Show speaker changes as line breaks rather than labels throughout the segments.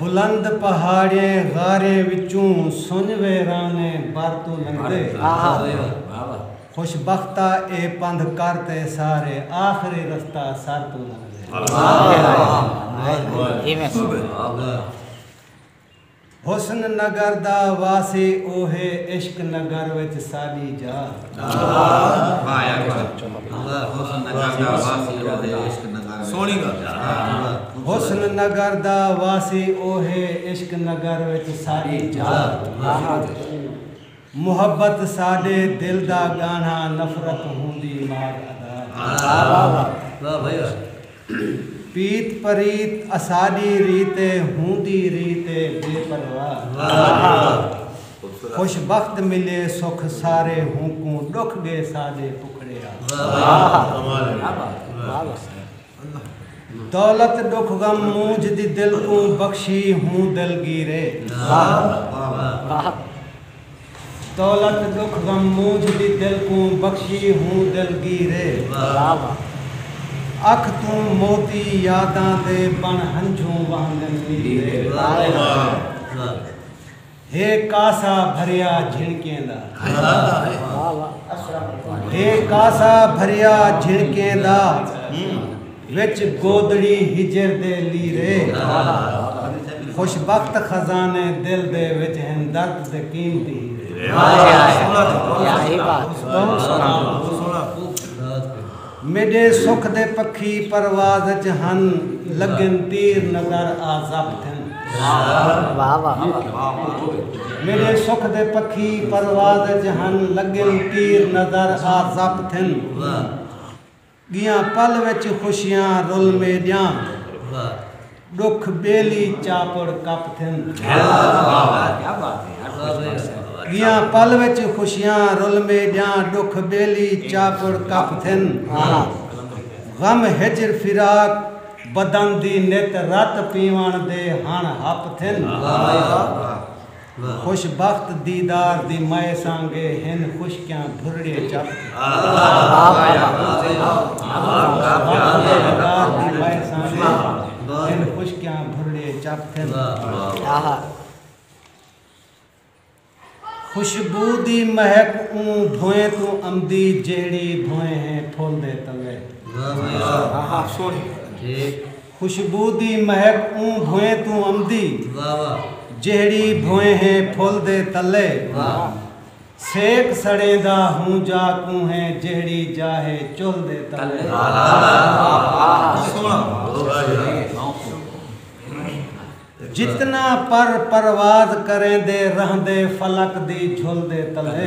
بلند پہاڑیں غاریں وچوں سنڄ ویرانے بر توں لنگھدے۔ خوش بختا اے پندھ کر تے سارے آخری رستہ سر توں لنگھدے۔ حسن نگر دا واسی اوہے عشق نگر وچ ساڈی جاہ۔ حسن نگر دا واسی اوہے عشق نگر وچ ساڈی جاہ۔ محبت ساڈے دل دا گانہا نفرت ہوندی مار ادا پیت پریت اساڈی ریت اے ہوندی ریت اے بے پرواہ خوش بخت ملے سکھ سارے ہونکوں ڈکھ گے ساڈے پکھڑے آ۔ دولت ڈکھ غم مونجھ دی دل کوں بخشی ہوں دلگیرے۔ دولت ڈکھ غم مونجھ دی دل کوں بخشی ہوں دلگیرے۔ اکھ توں موتی یاداں دے بن ہنجھوں وہندن میرے۔ ہے کاسہ بھریا جھنکیں دا۔ ہے کاسہ بھریا جھنکیں دا۔ وچ گودڑی ہجر دے لیرے۔ خوش بخت خزانے دل دے وچ ہن درد دے قیمتی ہیرے۔ میݙے سکھ دے پکھی پرواز اچ ہن لڳن تیر نظر آ ضبط ہن میݙے سکھ دے پکھی پرواز اچ ہن لڳن تیر نظر آ ضبط ہن ڳیاں پل وچ خوشیاں رل میݙیاں۔ ڈکھ بیلی چاپڑ کپ تھن۔ ڈیاں پل وچ خوشیاں رل میڈیاں ڈکھ بیلی چاپڑ کپ تھن۔ غم ہجر فراق بدن دی نت رت پیوݨ دے ہݨ ہپ تھن۔ خوش بخت دیدار دی مئے سانگے ہن خشکیاں بھرڑیے چپ۔ خوشبو دی مہک اوں بھوئیں توں امدی جیہڑی بھوئیں ہیں پھل دے تلے۔ خوشبو دی مہک اوں بھوئیں توں امدی جیہڑی بھوئیں پھل دے تلے سیک سڑیندا ہوں جا کوں ہے جیہڑی جا ہے چلھ دے تلے جتنا پر پرواز کریندے رہندے فلک دی جھلھ دے تلے۔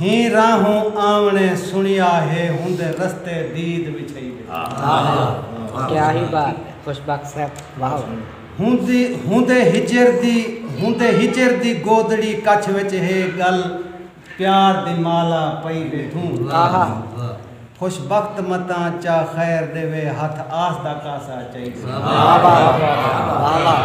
ہیں راہوں آوݨے سݨیا ہے ہوندے رستے دید وچھئی دے۔
کیا ہی بات ہے خوش بخت صاحب واہ۔
ہوندے ہجر دی ہوندے ہجر دی گودڑی کچھ وچ ہے ڳل پیار دی مالا پئی ویٹھوں۔ خوش بخت متاں چا خیر ݙیوے ہتھ آس دا کاسا چئی دے۔ واہ واہ واہ واہ واہ واہ۔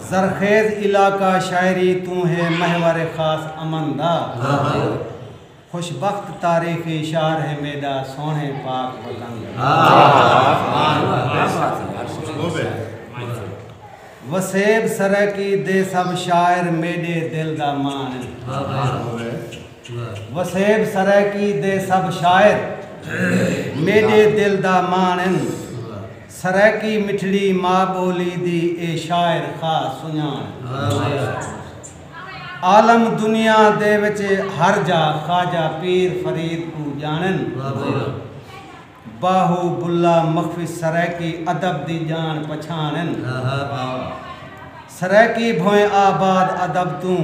زرخیز علاقہ شاعری توں ہے محور خاص امن دا خوش بخت تاریخی شہر ہے میڈا سوہݨے پاک وطن وسیب سرائیکی دے سب شاعر میڈے دل دا مان وسیب سرائیکی دے سب شاعر میڈے دل دا مان سرائیکی مٹھڑی ماء ٻولی دی اے شاعر خاص سنڄاݨ عالم دنیا دے وچ ہر جا خواجہ پیر فرید کوں ڄاݨن باہو بلا مخفی سرائیکی ادب دی ڄاݨ پچھاݨ سرائیکی بھوئیں آباد ادب توں